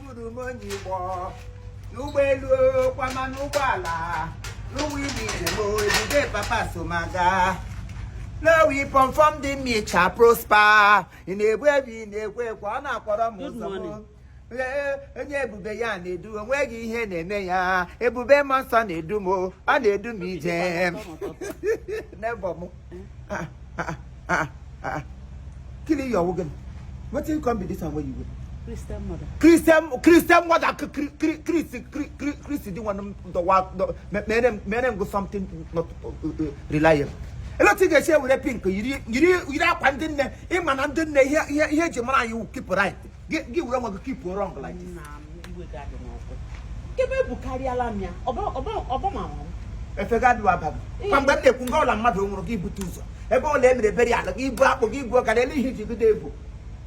buru m onye Igbo n'ụgbọelu kwama n'ụgbọala n'ụwa ime njem ebube papa so m aga no weapon formed me shall prosper ị na-egbu ebi ị na-egbu ekwe ọ na-akpọrọ m ụzọ m Ee, onye ebube ya na-edu onweghị ihe na-eme ya ebube mmụọ nsọ na-edu m o, ọ na-edu m ije n'ebe m ah, ah, ah, ah. kele ihe ọ wụ gịnị wetin come be this one wey you wear. christian mother. christian christian mother chris chris chris di one the wa mere mere go something not uh, uh, reliable. ele otu ị ga-esi were pink yiri yiri yiri akwa ndị nne ị ma na ndị nne ihe ihe e ji mara anyị keep right gị were nwa gị keep wrong like this nkebe bụ karịala m ya ọbọmanwụ efega adịwa abaghị kwa mgbe m na-ekwu nga ọla mmadụ nwụrụ gị bute ụzọ ebe ọla e mere burial gị ibu akpụ gị ibu ọka na ele ihe i ji bido ebu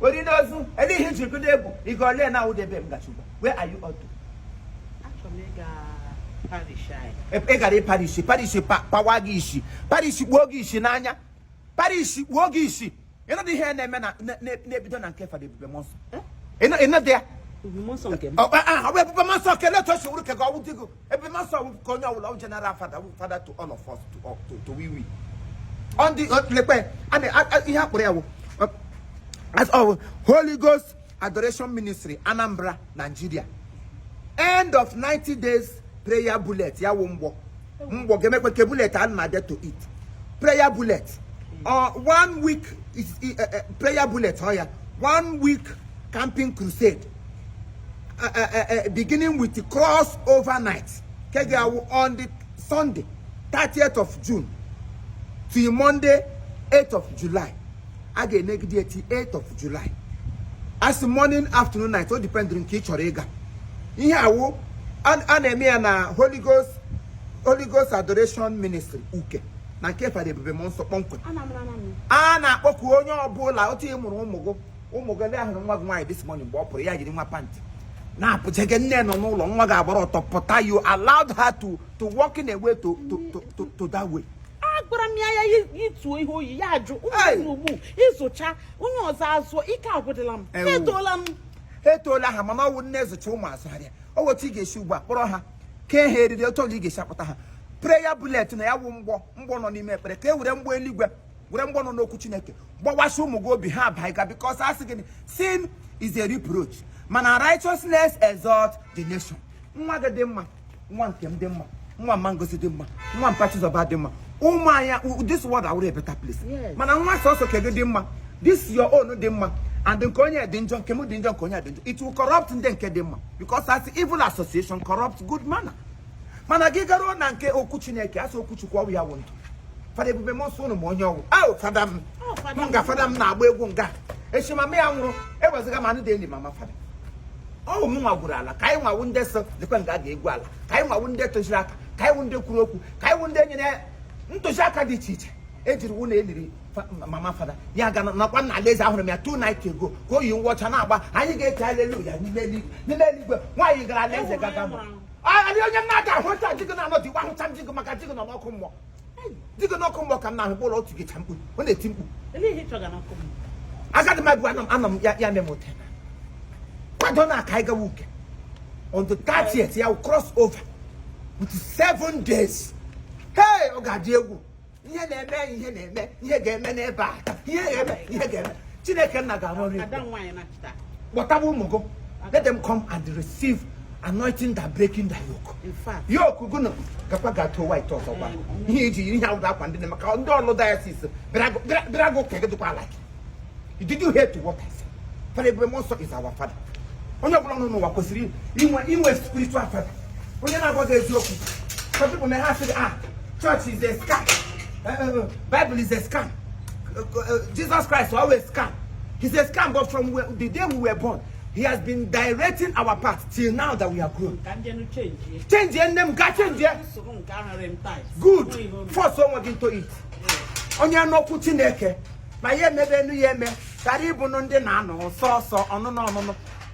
ori na ozu ele ihe i ji bido ebu ị ga ole na awụdebe m gachugwa where are you all to ị gara parish parish pawa gị isi parish gbuo gị isi n'anya parish gbuo gị isi ị nọdụ ihe na-eme na- na- na- na-ebido na nke fada ebube mmụọ nsọ Ịnọ- ị nọdụ ya Ebube nsọ nke m. Ọ- ọ- ọ bụ ebube mmụọ nsọ kele otu o si wụrụ ka ka ọ wụ di gị ebube mmụọ nsọ wụ nke onye ọbụla ọ general father wụ father to all of us to all- to to we we ọ ndị ọ- lekwe a na- a- a- ihe a kpọrọ ya wụ ọ- as ọ wụ holy ghost Adoration Ministry Anambra Nigeria end of 90 days prayer bullet ya wụ mgbọ mgbọ ga-emekwa ke bullet a na-abịa to it prayer bullet or uh, one week is, uh, uh, prayer bullet ọ oh ya one week camping crusade uh, uh, uh, uh beginning with the cross overnight ke ga on the Sunday 30th of June to Monday 8th of July a ga-anọgide ya till 8 of July as morning afternoon night ọ depend nke ị chọrọ ịga ihe awụ a na-eme ya na Holy Ghost Holy Ghost Adoration Ministry Uke na nke fada ebube mmụọ nsọ kpọmkwem a na-akpọku onye ọbụla otu ị mụrụ ụmụ gị ọla a hụrụ nwa gị nwaanyị this morning mgbe ọ pụrụ ya yiri nwa pantị na-apụjege nne nọ n'ụlọ nwa ga-agbara ọtọ pụta you allowed her to to walk in a way to to to to that way agwara m ya ya yituo ihe o yi ya ajụ ụmụnne ugbu ị zụcha onye ọzọ azụọ ike agwụdịla m etoola m etoola ha mana ọ wụ nne zụcha ụmụ azụharịa o nwe otu ị ga-esi ugbu a kpọrọ ha kee ha eriri otu ọla ị ga-esi akpụta ha prayer bullet na ya wụ mgbọ mgbọ nọ n'ime ekpere ka e were mgbọ eluigwe were mgbọ nọ n'okwu chineke gbawasị ụmụ gị obi ha abaiga because a sị gịnị sin is a reproach mana righteousness exalt the nation nwa gị dị mma nwa nke m dị mma nwa mma Ngozi dị mma nwa mpa Chizọba dị mma ụmụ anya this world awụrụ a better place mana nwa sọsọ nke gị dị mma this your own dị mma and nke onye dị njọ nke m dị njọ nke onye dị njọ it will corrupt ndị nke dị mma because a sị evil association corrupt good manner mana gị garuo na nke okwu chineke a sị okwu chukwu ọ wụ ya wụ ndụ fada ebube mmụọ nsọ ụnụ ma onye ọ wụ ọ wụ fada m nga fada m na-agba egwu nga echimama ya nwụrụ ewezụga ma anụ dị enyi mama fada ọ wụ mụ nwa gwuru ala ka anyị nwa wụ ndị sị lekwa nga a ga-egwu ala ka anyị nwa wụ ndị tụziri aka ka anyị wụ ndị kwuru okwu ka anyị wụ ndị nyere ntụziaka dị iche iche e jiri wụ na e liri fa- ma- mama fada ya ga nakwa na alaeze ahụrụ m ya two nights ago ka o yi uwe ọcha na-agba anyị ga-ekwe aleluya n'ime eluigwe nwaanyị gara alaeze gaga mụ anyị onye m na-aga ahụ nta jigị na-anọ dị gwa ahụcha m jigị maka jigị nọ n'ọkụ mmụọ dịgo n'ọkụ mmụọ ka m na-ahụ kpọrọ otu gịcha mkpu ọ na-eti mkpu agadi magbu anọ m ya ya memo tena kwadonụ ka anyị gawa Uke on the 30th ya cross over with seven days hey ọ ga-adị egwu ihe na-eme ihe na-eme ihe ga-eme n'ebe a ihe ga-eme ihe ga-eme chineke nna ga-arụ ọrụ kpọtaba ụmụ gị let them come and receive anointing that breaking the yoke yoke gụnụ gakwa ga too white ọzọ gwa ihe iji yiri ihe awụda akwa ndị na maka ndị ọlụ diocese is gị ụka gị dịkwa like did you hear to what I said fada Ebube Mmụọnsọ is our father onye ọbụla nọ n'ụwa kwesịrị inwe inwe spiritual father onye na-agwa gị eziokwu some people may have said ah church is a scam uh, uh, uh, bible is a scam uh, Jesus Christ ọ wụ scam. He's a scam, but from the day we were born, he has been directing our path till now that we are grown. Change your name, God, change your. Good. Force someone into it. Onye nụ okwu Chineke, ma ya emebe a nụ ya eme, karịa ịbụ ndị na-anụ sọsọ ọnụnụ ọnụnụ.